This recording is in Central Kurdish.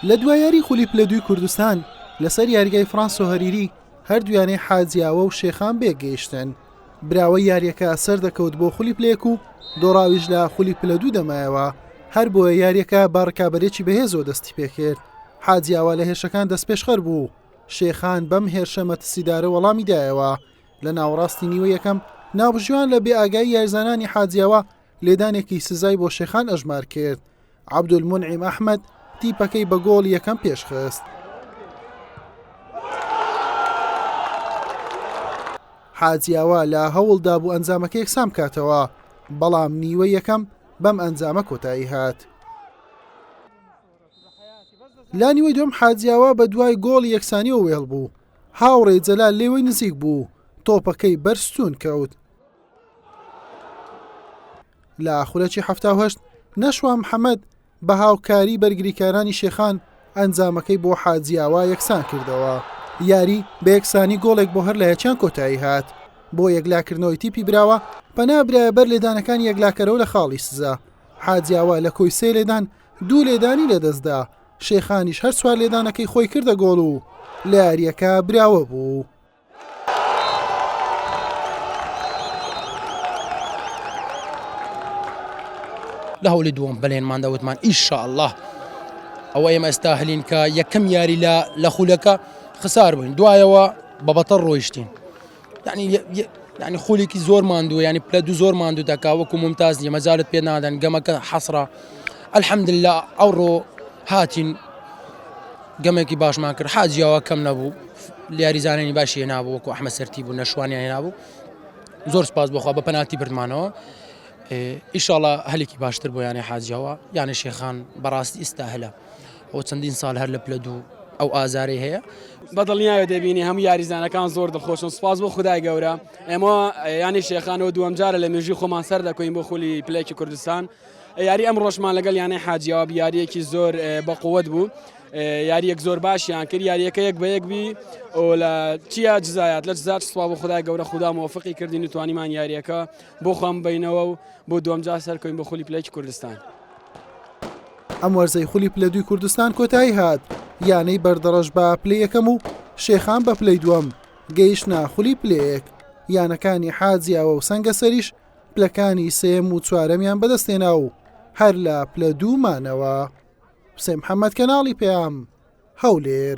لە دوا یاری خولی پلە دووی کوردستان لەسەر یاریگای فرانس و هەریری هەردوویانەی حاجیاوە و شێخان بێک گەیشتن براوە یاریەکە سەر دەکەوت بۆ خولی پلێک و دۆڕاویش لە خولی پلە دوو دەمایەوە هەر بۆیە یاریەکە بە ڕکابەرێکی بەهێزۆ دەستی پێکرد حاجیاوە لە هێرشەکان دەست پێشخەر بوو شێخان بەم هێرشە مەتسیدارە وەڵامی دایەوە لە ناوەڕاستی نیوە یەکەم ناوبژیوان لە بێ ئاگای یارزانانی حاجیاوە لێدانێکی سزای بۆ شێخان ئەژمار کرد، عەبدولمونعیم ئەحمەد تیپەکەی بە گۆڵ یەکەم پێشخست. حاجیاوا لە هەوڵدا بوو ئەنجامەکە یەکسان بکاتەوە بەڵام نیوە یەکەم بەم ئەنجامە کۆتایی هات لا نیوەی دوم حاجیاوا بە دوای گۆڵ یەکسانی و وێڵ بوو هاوڕێ جەلال لێوەی نزیک بوو تۆپەکەی بەرستون کەوت لە خولەکی حەفتا و هەشت نەشوا محەمەد بە هاوکاری بەرگریکارانی شێخان ئەنجامەکەی بۆ حاجیاوا یەکسان کردەوە یاری بە یەکسانی گۆڵێک بۆ هەر لە یەکیان کۆتایی هات بۆ یەکلاکردنەوەی تیپی براوە پەنا برایە بەر لێدانەکان یەکلاکەرەوە لە خاڵی سزا حاجیاوا لە کۆی سێ لێدان دوو لێدانی لەدەستدا شێخانیش هەر سوار لێدانەکەی خۆی کردە گۆڵ و لە یاریەکە براوە بوو. لە هەولی دووەم بەلێنماندا وتمان ان شاء الله ئەوە ئێمە ئێستا هەلینکە یەکەم یاری لە لە خولەکە خسار بووین دوایەوە بە بەتەڕ ڕۆیشتین یعنی یە- یە- یعنی خولێکی زۆر ماندووە ینی پلە دوو زۆر ماندوو دەکا وەکو ممتاز نیە مەجالت پێ نادەن گەمەکە حەسرە الحمدلله ئەوڕۆ هاتین گەمێکی باشمان کرد حاجی ئەوە کەم نەبوو یاریزانانی باشی هێنابوو وەکو ئەحمە سەرتی بوو نەشوانیان هێنابوو زۆر سپاس بۆخوا بە پەناتی بردمانەوە ئیشاڵە هەلێکی باشتر بۆ یانە حاجەوە یانە شێخان بەڕاستی ئیستا هەلە ئەو چەندین ساڵ هەر لە پلە دوو ئەو ئازارەی هەیە بەدڵنیایە دەبینی هەموو یاریزانەکان زۆر دڵخۆشن سپاس بۆ خدای گەورە ئێمە ینی شێخانەوە دووەم جارە لە مێژوی خۆمان سەر دەکەین بۆ خولی پلێکی کوردستان یاری ئەمڕۆشمان لەگەڵ یانەی حاجیەوە بە یاریەکی زۆر بەقوت بوو یاریەک زۆر باشیان کرد یاریەکە یەک بە یەک بی و لە چیا جزایات لە جزات سووا بۆ خدای گەورە خوددا مۆفقی کردین و توانیمان یاریەکە بۆ خۆم بینەوە و بۆ دومجا سەرکەین بە خولی پلەی کوردستان. ئەم وەرزەی خولی پلە دوی کوردستان کۆتایی هات یانەی بەردەڕەش بە پلی یەکەم و شێخان بە پلەی دووەم گەیشتە خولی پلەیەک یانەکانی حاجیاوە و سەنگەسەریش پلەکانی سێم و چوارەمیان بەدەستێنا و هەر لە پلە دوومانەوە حسێن محەممەد کەناڵی پەیام هەولێر